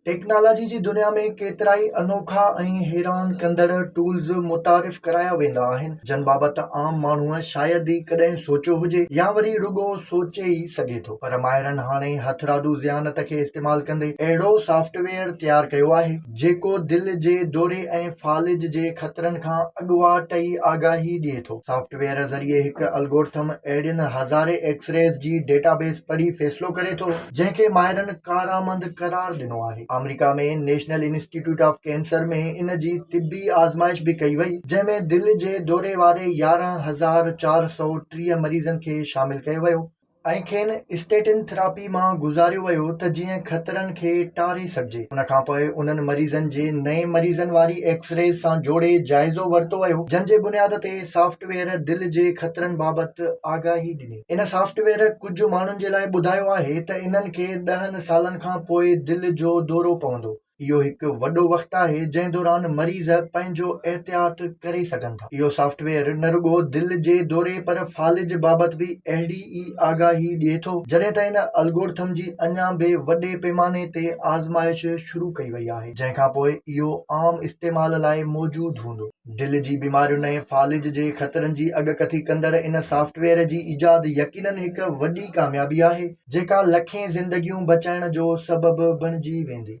Technology جي دنيا ۾ ڪيترائي انوکا ۽ حيران ڪندڙ ٽولز متعارف ڪرايا ويندا آهن جن بابت عام ماڻهوء شايد ئي ڪڏهن سوچيو هجي يا وري رڳو سوچي ئي سگهي ٿو پر ماهرن هاڻي هٿرادو ذهانت کي استعمال ڪندي اهڙو سافٽ ويئر تيار ڪيو آهي جيڪو دل جي دوري ۽ فالج جي خطرن کان اڳواٽ ئي آگاهي ڏئي ٿو سافٽ ويئر ذريعي هڪ الگورٿم اهڙين هزارين ايڪسريز جي ڊيٽا بيس پڙهي فيصلو ڪري ٿو جنهن کي ماهرن ڪارآمد قرار ڏنو آهي. آمريڪا ۾ نيشنل انسٽيٽيوٽ آف ڪينسر ۾ ان جي طبي آزمائش به ڪئي وئي، جنهن ۾ دل جي دوري واري يارهن هزار چار سؤ ٽيهه مريضن کي شامل ڪيو ويو، ۽ کين اسٽيٽن ٿراپي مان گذاريو ويو ته جيئن خطرن کي ٽاري سگهجي، ان کان پوء انهن مريضن جي نئين مريضن واري ايڪس ريز سان جوڙي جائزو ورتو ويو، جنهن جي بنياد تي سافٽ ويئر دل جي خطرن بابت آگاهي ڏني. ان سافٽ ويئر ڪجهه ماڻهن جي لاء ٻڌايو آهي ته انهن کي ڏهن سالن کان پوء دل جو دورو پوندو. اهو هڪ وڏو وقت آهي جنهن دوران مريض پنهنجو احتياط ڪري سگهن ٿا. اهو سافٽ ويئر نه رڳو دل جي دوري پر فالج بابت به اهڙي ئي آگاهي ڏئي ٿو. جڏهن ته ان الگورٿم جي اڃا به وڏي پيماني تي آزمائش شروع ڪئي وئي آهي جنهن کان پوء اهو عام استعمال لاء موجود هوندو. دل جي بيمارين ۽ فالج جي خطرن جي اڳڪٿي ڪندڙ ان سافٽ ويئر جي ايجاد يقينن هڪ وڏي ڪاميابي آهي، جيڪا لکين زندگيون بچائڻ جو سبب بڻجي ويندي.